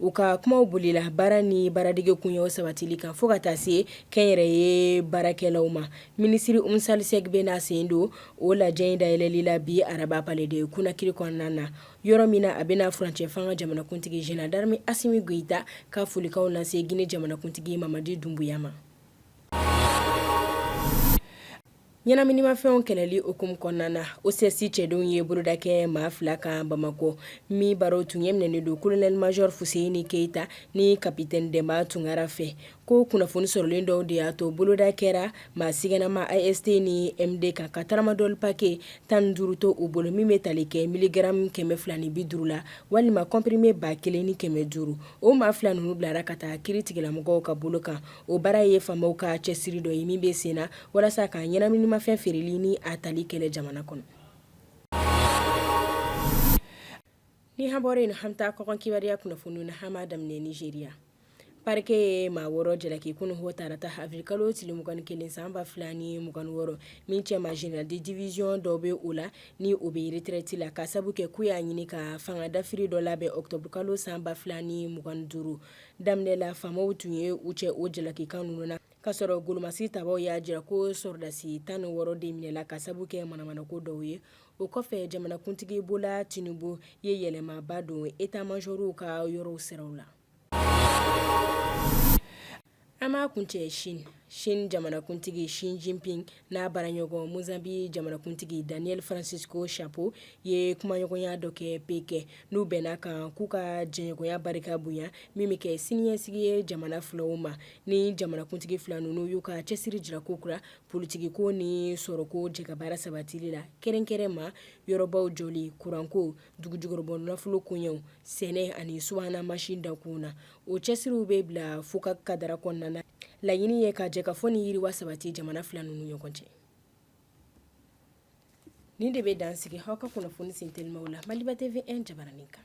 U ka kumaw bolila baara ni baaradege koɲɛw sabatili kan fo ka taa se kɛnyɛrɛye baarakɛlaw ma minisiri umu sali sɛki bɛna sen don o lajɛ in dayɛlɛli la bi araba palɛ de konakiri kɔnɔna na yɔrɔ min na a bɛna furancɛ fanga jamanakuntigi zenerali darame asimi goyita ka folikan lase gine jamanakuntigi mamadi dunbuya ma ɲɛnaminimafɛnw kɛlɛli hukumu kɔnɔna na osɛsi cɛdenw ye boloda kɛ maa fila kan bamakɔ min baro tun ɲɛminɛnen don kolonɛli majɔr fuseyini keyita ni kapitɛni dɛnba tunkara fɛ ko kunnafoni sɔrɔlen dɔw de y'a to boloda kɛra maa siganama ast ni md kan ka taramadɔli pake tan ni duuru to u bolo min bɛ tali kɛ miligaramu kɛmɛ fila ni bi duuru la walima kɔnprime ba kelen ni kɛmɛ duuru o maa fila ninnu bilara ka taa kiritigɛlamɔgɔw ka bolo kan O baara ye faamaw ka cɛsiri dɔ ye min bɛ sen na walasa ka ɲɛnaminimafɛn feereli ni a tali kɛlɛ jamana kɔnɔ ni an bɔra yen an bɛ taa kɔkan kibaruya kunnafoni na an b'a daminɛ nizeriya parikɛ ye maa wɔɔrɔ jalaki kunun hɔ tarata awirilikalo tile mugan ni kelen san ba fila ni mugan ni wɔɔrɔ min cɛma zenerali de diwiziyɔn dɔ bɛ o la ni o bɛ eretirɛti la ka sabu kɛ k'u y'a ɲini ka fanga dafiri dɔ labɛn ɔkutɔburukalo san ba fila ni mugan ni duuru daminɛ la faamaw tun ye u cɛ o jalakikan ninnu na ka sɔrɔ golomasi tabaw y'a jira ko sɔrɔdasi tan ni wɔɔrɔ de minɛla ka sabu kɛ manamanako dɔw ye o kɔfɛ jamanakuntigi bola tinubu ye yɛlɛmaba don eta majɔriw ka yɔrɔw siraw la An b'a kuncɛ sini sini jamanakuntigi si jinping n'a baaraɲɔgɔn mozanbiki jamanakuntigi daniyɛli faransisiko sapo ye kumaɲɔgɔnya dɔ kɛ pekɛn n'u bɛnna a kan k'u ka jɛɲɔgɔnya barika bonya min bɛ kɛ siniɲɛsigi ye jamana filaw ma ni jamanakuntigi fila ninnu y'u ka cɛsiri jira kokura politigiko ni sɔrɔko jɛkabaara sabatili la kɛrɛnkɛrɛn ma yɔrɔbaw jɔli kuranko dugujukɔrɔbɔ nafolo koɲɛw sɛnɛ ani subahana mansin dakun na O cɛsiriw bɛ bila fokaki kadara kɔnɔna na laɲini ye ka jɛkafɔ ni yiriwa sabati jamana fila ninnu ɲɔgɔn cɛ nin de bɛ dan sigi aw ka kunnafoni sentelimaw la maliba tewe jabaranin kan